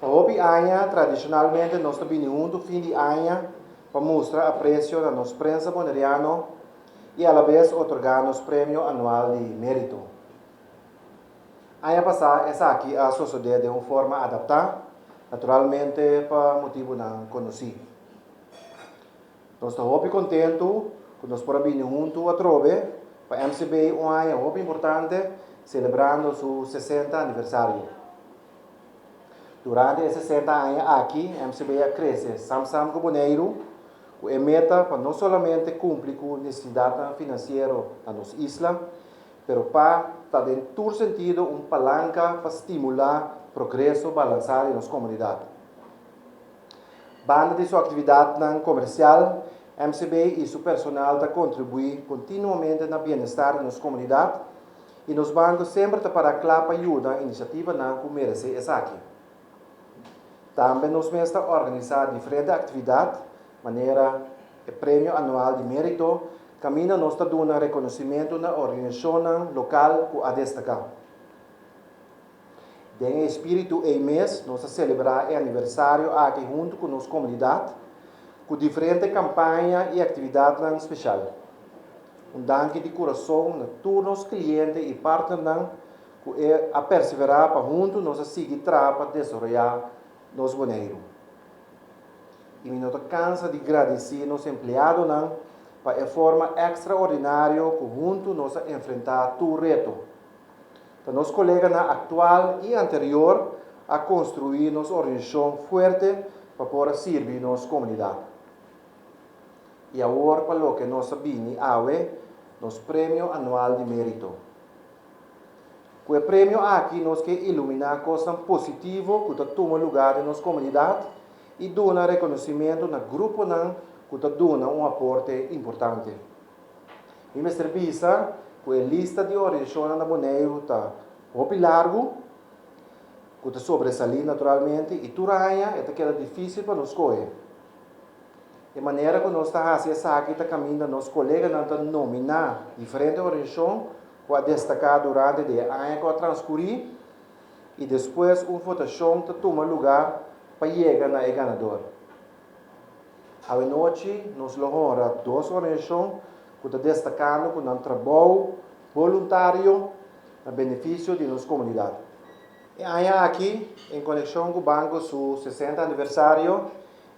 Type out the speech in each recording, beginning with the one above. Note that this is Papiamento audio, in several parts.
Pa hopi aña, tradishonalmente nos ta bini huntu fin di aña pa mustra apresio na nos prensa boneriano i alabes otorgá nos premio anual di Mérito. Aña pasá esaki a sosodé den un forma adaptá, naturalmente pa motibunan konosí. Nos ta hopi kontentu ku nos por a bini huntu atrobe. Pa MCB i un aña hopi importante selebrando su sesenta aniversario. Durante e sesenta aña aki MCB a krese samsam ku Boneiru ku e meta pa no solamente kumpli ku nesesidatnan finansiero na nos isla pero pa ta den tur sentido un palanka pa stimulá progreso balansá di nos komunidat. Banda di su aktividatnan komersial, MCB i su personal ta kontribuí kontinuamente na bienestar di nos komunidat, i nos banko semper ta pará kla pa yuda inisiativanan ku meresé esaki. Tambe nos mes ta organisá diferente aktividat, manera e Premio Anual di Mérito, kaminda nos ta duna rekonosimentu na organiashonnan lokal ku a destaká. Den e spiritu ei mes nos a celebra e aniversario aki huntu cu nos comunidad cu diferente campaña y actividadnan special. Un danki di curason na tur nos cliente y partnernan cu a persevera pa huntu nos a sigui traha pa desaroya nos Boneiru. Y mi no ta cansa di gradici nos empleadonan pa e forma extraordinario cu huntu nos a enfrenta tur reto. Ta nos koleganan aktual i anterior a konstruí nos organisashon fuerte pa por a sirbi nos komunidat. I awor pa loke nos a bini awe, nos Premio Anual di Mérito. Ku e premio aki nos ke iluminá kosnan positivo ku ta tuma lugá den nos komunidat i duna rekonosimentu na gruponan ku ta duna un aporte importante. Mi mester bisa ku e lista di organizashonnan na Boneiru ta hopi largu, ku ta sobresalí naturalmente, i tur aña e ta keda difísil pa nos skohe. E manera ku nos ta hasi esaki ta kaminda nos koleganan ta nominá diferente organizashon ku a destaká durante di e aña ku a transkurí i despues un votashon ta tuma lugá pa yega na e ganador. Awenochi nos lo honra dos organisacion cu ta destacando cu nan trabou boluntario na beneficio di nos comunidad. E aña aki, en conecion cu Banco su sesenta aniversario,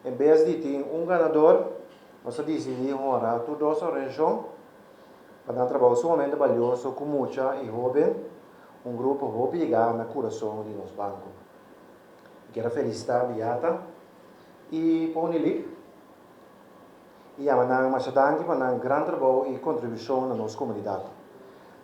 en bes di tin un ganador, nos a dicidi honra tur dos organisacion pa nan trabou sumamente balioso cu mucha y hoben, un grupo hopi yega na curason di nos Banco. Mi kier a felicita Beata. i pone li i yama nan masha danki pa nan gran trabou i kontribushon na nos komunidat.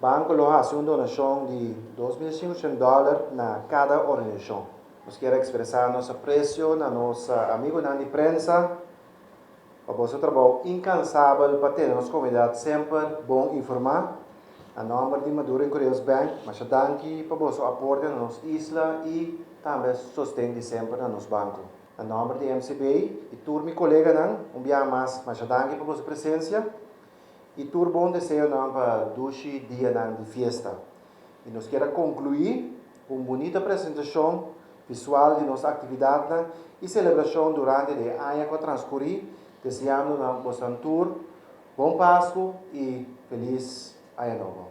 Banko lo hasi un donashon di dos mil sinku shent dòler na kada organizashon. Nos kier ekspresá nos apresio na nos amigunan di prensa. Pa boso trabou inkansabel pa tene nos komunidat semper bon informá. Na nòmber di Maduro en Kureos Bank, masha danki pa boso aporte na nos isla i tambe sosten di semper na nos banko. Na nòmber di MCB i tur mi koleganan, un biaha mas masha danki pa boso presensia i tur bon deseonan pa dushi dianan di fiesta. I nos kier a konkluí. Ku un bunita presentashon visual di nos aktividatnan i selebrashon durante di e aña ku a transkurí, deseando nan bosnan tur Bon Pasku i Felis Aña Nobo.